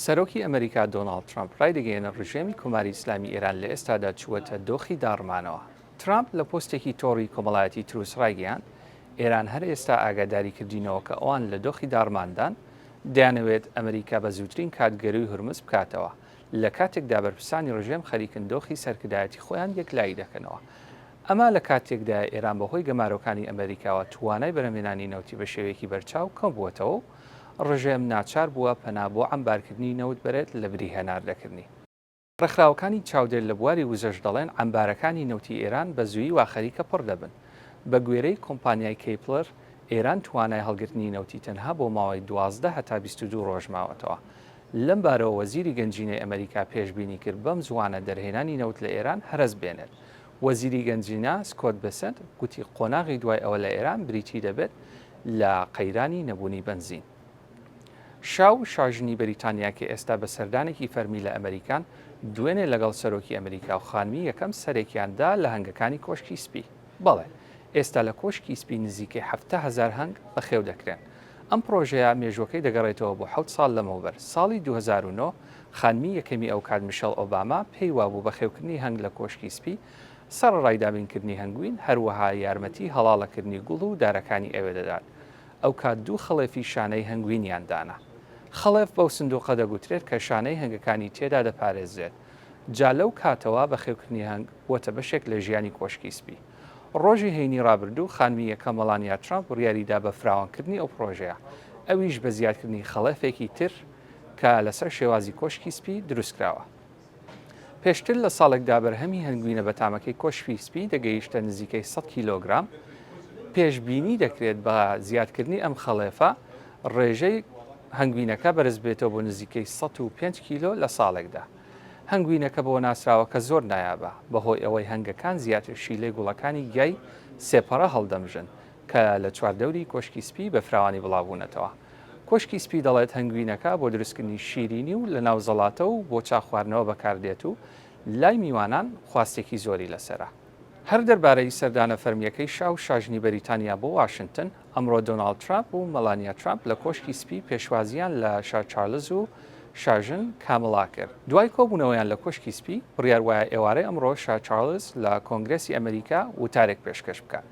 سەرۆکی ئەمەریکا دۆناڵد ترەمپ رایدەگەیەنێت رژێمی کۆماری ئیسلامی ئێران لە ئێستادا چووەتە دۆخی داڕمانەوە. ترەمپ لە پۆستێکی تۆڕی کۆمەڵایەتی تروس رایگەیاند، ئێران هەر ئێستا ئاگاداری کردینەوە کە ئەوان لە دۆخی داڕماندان، دەیانەوێت ئەمەریکا بە زووترین کات گەرووی هورمز بکاتەوە، لە کاتێکدا بەرپرسانی رژێم خەریکن دۆخی سەرکردایەتی خۆیان یەکلایی دەکەنەوە. ئەمە لە کاتێکدایە ئێران بەهۆی گەمارۆکانی ئەمەریکاوە توانای بەرهەمهێنانی نەوتی بە شێوەیەکی بەرچاو کەمبووەتەوە و ڕژێم ناچار بووە پەنا بۆ عەمبارکردنی نەوت بەرێت لە بری هەناردەکردنی. ڕێکخراوەکانی چاودێر لە بواری وزەش دەڵێن عەمبارەکانی نەوتی ئێران بە زوویی وا خەریکە پڕ دەبن. بە گوێرەی کۆمپانیای کەیپڵر، ئێران توانای هەڵگرتنی نەوتی تەنها بۆ ماوەی دوازدە هەتا بیست و دوو ڕۆژ ماوەتەوە. لەم بارەوە وەزیری گەنجینەی ئەمەریکا پێشبینی کرد بەم زووانە دەرهێنانی نەوت لە ئێران هەرەس بێنێت وەزیری گەنجینە سکۆت بێسنت گوتی قۆناغی دوای ئەوە لە ئێران بریتی دەبێت لە قەیرانی نەبوونی بەنزین. شاو شاژنی بەریتانیا کە ئێستا بە سەردانێکی فەرمی لە ئەمەریکان، دوێنێ لەگەڵ سەرۆکی ئەمەریکا و خانمی یەکەم سەرێکیان دا لە هەنگەکانی کۆشکی سپی. بەڵێ، ئێستا لە کۆشکی سپی نزیکەی حەفتا هەزار هەنگ بەخێو دەکرێن. ئەم پڕۆژەیە مێژووەکەی دەگەڕێتەوە بۆ حەوت ساڵ لەمەوبەر، ساڵی دوو هەزار و نۆ خانمی یەکەمی ئەوکات میشێڵ ئۆباما پێی وابوو بەخێوکردنی هەنگ لە کۆشکی سپی سەڕەڕای دابینکردنی هەنگوین هەروەها یارمەتی هەڵاڵەکردنی گوڵ و دارەکانی ئەوێ دەدات ئەوکات دوو خڵێفی شانەی هەنگوینیان دانا. خڵێف بەو سندوقە دەگوترێت کە شانەی هەنگەکانی تێدا دەپارێزرێت جا لەو کاتەوە بەخێوکردنی هەنگ بووەتە بەشێک لە ژیانی کۆشکی سپی. ڕۆژی هەینی ڕابردوو خانمی یەکەم مەلانیا ترامپ بڕیاریدا بە فراوانکردنی ئەو پڕۆژەیە، ئەویش بە زیادکردنی خەڵەفێکی تر کە لەسەر شێوازی کۆشکی سپی دروستکراوە. پێشتر لە ساڵێکدا بەرهەمی هەنگوینە بەتامەکەی کۆشکی سپی دەگەیشتە نزیکەی سەد کیلۆگرام، پێشبینی دەکرێت بە زیادکردنی ئەم خەڵێفە ڕێژەی هەنگوینەکە بەرزببێتەوە بۆ نزیکەی سەد و پێنج کیلۆ لە ساڵێکدا. هەنگوینەکە بەوە ناسراوە کە زۆر نایابە بەهۆی ئەوەی هەنگەکان زیاتر شیلەی گوڵەکانی گیای سێپەڕە هەڵدەمژن کە لە چواردەوری کۆشکی سپی بە فراوانی بڵاوبوونەتەوە. کۆشکی سپی دەڵێت هەنگوینەکە بۆ دروستکردنی شیرینی و لەناو زەڵاتە و بۆ چا خواردنەوە بەکاردێت و لای میوانان خواستێکی زۆری لەسەرە. هەر دەربارەی سەردانە فەرمییەکەی شا و شاژنی بەریتانیا بۆ واشنتن، ئەمڕۆ دۆناڵد ترامپ و مەلانیا ترامپ لە کۆشکی سپی پێشوازییان لە شا چارلز و شاژن کاملا کرد. دوای کۆبوونەوەیان لە کۆشکی سپی، بڕیار وایە ئێوارەی ئەمڕۆ شا چارلز لە کۆنگرێسی ئەمریکا وتارێک پێشکەش بکات.